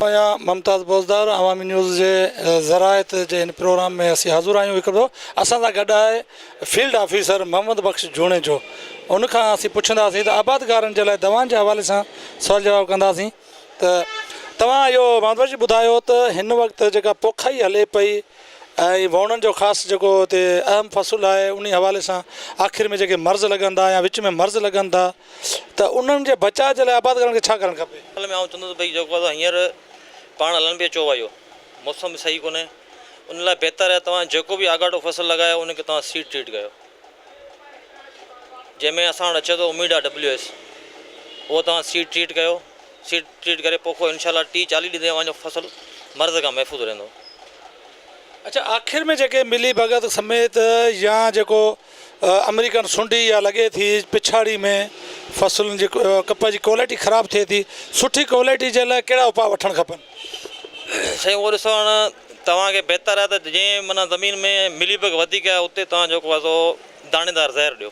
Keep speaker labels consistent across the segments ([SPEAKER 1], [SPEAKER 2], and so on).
[SPEAKER 1] آهيان ممتاز بوزدار عوامي نيوز جي زراعت جي هن پروگرام ۾ اسين حاضر آهيون هڪ ڀيرو اسان سان گڏ آهي فيلڊ آفيسر محمد بخش جوڻيجو ان کان اسين پڇنداسين ته آبادگارن جي لاء دوائن جي حوالي سان سوال جواب ڪنداسين ته توهان اهو محمد بخش جي ٻڌايو ته هن وقت جيڪا پوکائي هلي پئي ۽ وهوڻن جو خاص جيڪو هتي اهم فصل آهي انهي حوالي سان آخر ۾ جيڪي مرض لڳن ٿا يا وچ ۾ مرض لڳن ٿا ته انهن جي بچاء جي لاء آبادگارن کي ڇا ڪرڻ کپي؟ ان ۾ آئون چوندس ته ڀئي جيڪو
[SPEAKER 2] اسان هينئر پاڻ هلن پيا چئو آهيو موسم به صحيح ڪونهي ان لاء بهتر آهي توهان جيڪو به آڳاٽو فصل لڳايو ان کي توهان سيڊ ٽريٽ ڪيو جنهن ۾ اسان وٽ اچي ٿو اميڊا ڊبليو ايس اهو توهان سيڊ ٽريٽ ڪيو سيڊ ٽريٽ ڪري پوکو انشاء الله ٽيهه چاليهه ڏينهن تائين اوهان جو فصل مرض کان محفوظ رهندو.
[SPEAKER 1] اڇا آخر ۾ جيڪي ملي ڀڳت سميت يا جيڪو امريڪن سنڊي يا لڳي ٿي پڇاڙي ۾ فصلن جي ڪپهه جي ڪوالٽي خراب ٿئي ٿي سٺي ڪوالٽي جي لاء ڪهڙا اپاء وٺڻ کپن؟ سائين
[SPEAKER 2] اهو ڏسو هاڻ توهان کي بهتر آهي ته جنهن معنيٰ زمين ۾ ملي بگ وڌيڪ آهي اتي توهان جيڪو آهي سو داڻيدار زهر ڏيو.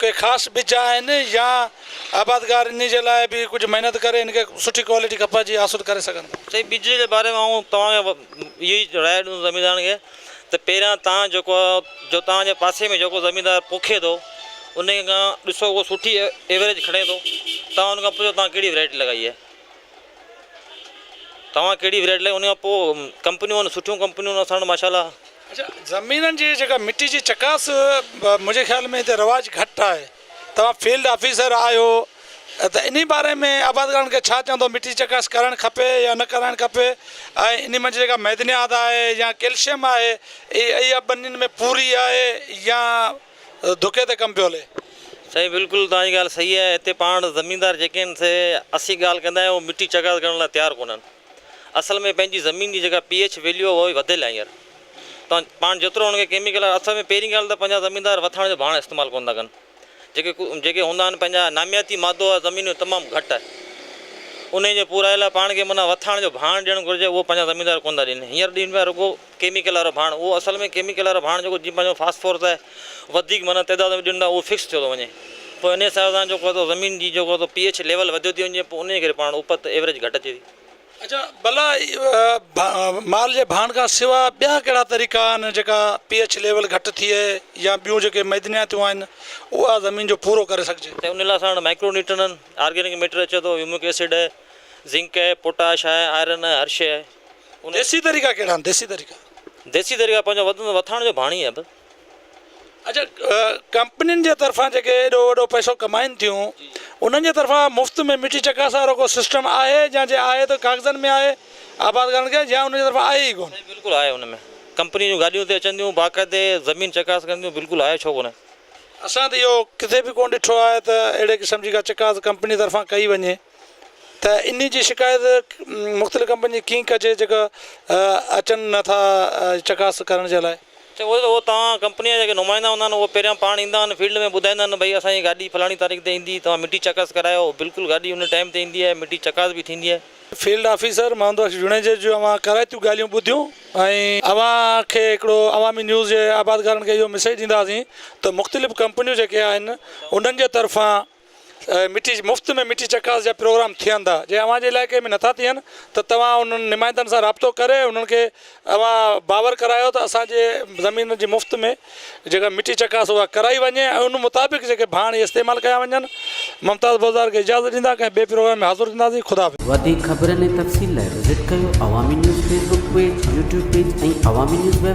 [SPEAKER 1] ڪي خاص ٻج آهن يا آبادگار انهي جي لاء به ڪجهه محنت ڪري هن کي سٺي ڪوالٽي ڪپهه جي حاصل ڪري سگهن ٿا. سائين ٻج جي باري ۾ آئون
[SPEAKER 2] توهان کي اهو ئي راء ڏيندس زميندارن کي ته پهريان توهان جيڪو جو توهان جي پاسي ۾ جيڪو زميندار پوکي ٿو انهي کان ڏسو اهو سٺي ايوريج کڻي ٿو توهان ان کان پڇو توهان ڪهڙي ويرائٽي لڳائي آهي توهان ڪهڙي ورائٽي لائي ان کان پوء ڪمپنيون آهن سٺيون ڪمپنيون اسان وٽ ماشاء الله. اچا زمينن
[SPEAKER 1] جي جيڪا مٽي جي چڪاس منهنجي خيال ۾ هتي رواج گهٽ آهي توهان فيلڊ آفيسر آهيو ته انهي باري ۾ آبادگارن کي ڇا چوندو مٽي جي چڪاس ڪرڻ کپي يا نه ڪرڻ کپي ۽ انهي منجهه جيڪا معدنيات آهي يا ڪيلشم آهي اهي اهي ٻنين ۾ پوري آهي يا ڌڪي تي ڪم پيو هلي. سائين بلڪل
[SPEAKER 2] توهان جي ڳالهه صحيح آهي هتي پاڻ زميندار جيڪي آهن سي اسين ڳالهه ڪندا آهيون اهي مٽي چغاز ڪرڻ لاء تيار ڪونهن اصل ۾ پنهنجي زمين جي جيڪا پي ايڇ ويليو اهو وڌيل آهي هينئر توهان پاڻ جيترو هن کي ڪيميڪل وارو اصل ۾ پهرين ڳالهه ته پنهنجا زميندار وٿاڻ جو ڀاڻ استعمال ڪونه ٿا ڪن جيڪي جيڪي هوندا آهن پنهنجا نامياتي مادو آهي زمين ۾ تمام گهٽ آهي انهي جي پورائي لاء پاڻ کي معنيٰ وٿاڻ جو ڀاڻ ڏيڻ گهرجي اهو پنهنجا زميندار ڪونه ٿا ڏين هينئر ڏين پيا رڳو ڪيميڪل وارو ڀاڻ، اهو اصل ۾ ڪيميڪل وارو ڀاڻ جيڪو جيئن پنهنجو فاسفورس آهي، وڌيڪ معنيٰ تعداد ۾ ڏنو ٿا اهو فڪس ٿيو ٿو وڃي. پوء انهيء سبب سان جيڪو ٿو زمين جي جيڪو ٿو پي ايڇ ليول وڌيو ٿي وڃي پوء انهيء ڪري پاڻ اپت، Average، گهٽ اچي ٿي. اچا ڀلا
[SPEAKER 1] مال جي ڀاڻ کان سوا ٻيا ڪهڙا طريقا آهن جيڪا پي ايڇ ليول گهٽ ٿئي يا ٻيون جيڪي معدنياتيون آهن اها زمين جو پورو ڪري سگهجي؟ ته انهيء لاء اسان وٽ مائڪرو
[SPEAKER 2] نيوٽرنن، آرگينڪ ميٽر اچي ٿو، هيومڪ ايسڊ آهي، زنڪ آهي، پوٽاش آهي، آئرن آهي، هر شيء آهي. ديسي طريقا ڪهڙا آهن
[SPEAKER 1] ديسي طريقا. ديسي طريقا پنهنجو وطن وٿاڻ جو ڀاڻي
[SPEAKER 2] آهي بس. اڇا
[SPEAKER 1] ڪمپنين جي طرفان جيڪي ايڏو وڏو پئسو ڪمائن ٿيون انهن جي طرفان مفت ۾ مٽي چڪاس وارو ڪو سسٽم آهي يا جي آهي ته ڪاغذن ۾ آهي آبادگارن کي يا انهن جي طرفان آهي ئي ڪونه. سائين بلڪل آهي ان ۾
[SPEAKER 2] ڪمپني جون گاڏيون اتي اچن ٿيون باقاعدي زمين چڪاس ڪن ٿيون بلڪل آهي ڇو ڪونه. اسان ته اهو
[SPEAKER 1] ڪٿي به ڪونه ڏٺو آهي ته اهڙي قسم جي ڪا چڪاس ڪمپني طرفان ڪئي وڃي. ته انهي جي شڪايت مختلف ڪمپنين جي ڪيئن ڪجي جيڪا اچن نٿا چڪاس ڪرڻ جي لاء. چيو ويو ته اهو توهان
[SPEAKER 2] ڪمپني جا جيڪي نمائندا هوندا آهن اهي پهريان پاڻ ايندا آهن فيلڊ ۾ ٻڌائيندا آهن ڀئي اسانجي گاڏي فلاڻي تاريخ تي ايندي توهان مٽي چڪاس ڪرايو بلڪل گاڏي ان ٽائيم تي ايندي آهي مٽي چڪاس به ٿيندي آهي. فيلڊ آفيسر
[SPEAKER 1] محمد بخش جوڻيجو جو اوهان ڪارائتيون ڳالهيون ٻڌيون ۽ اوهان کي هڪڙو عوامي نيوز جي آبادگارن کي اهو مسيج ڏينداسين ته مختلف ڪمپنيون جيڪي آهن انهن جي طرفان مٺي مفت ۾ مٺي چڪاس جا پروگرام ٿين ٿا جي اوهان جي علائقي ۾ نٿا ٿين ته توهان انهن نمائندن سان رابطو ڪري انهن کي اوهان باور ڪرايو ته اسانجي زمين جي مفت ۾ جيڪا مٺي چڪاس اها ڪرائي وڃي ۽ ان مطابق جيڪي ڀاڻ اهي استعمال ڪيا وڃن ممتاز بوزدار کي اجازت ڏيندا ڪنهن ٻئي پروگرام ۾ حاضر ٿينداسين خدا حافظ. وڌيڪ خبرن ۽
[SPEAKER 3] تفصيل لاء وزٽ ڪيو Awami news Facebook page, YouTube page ۽ Awami news web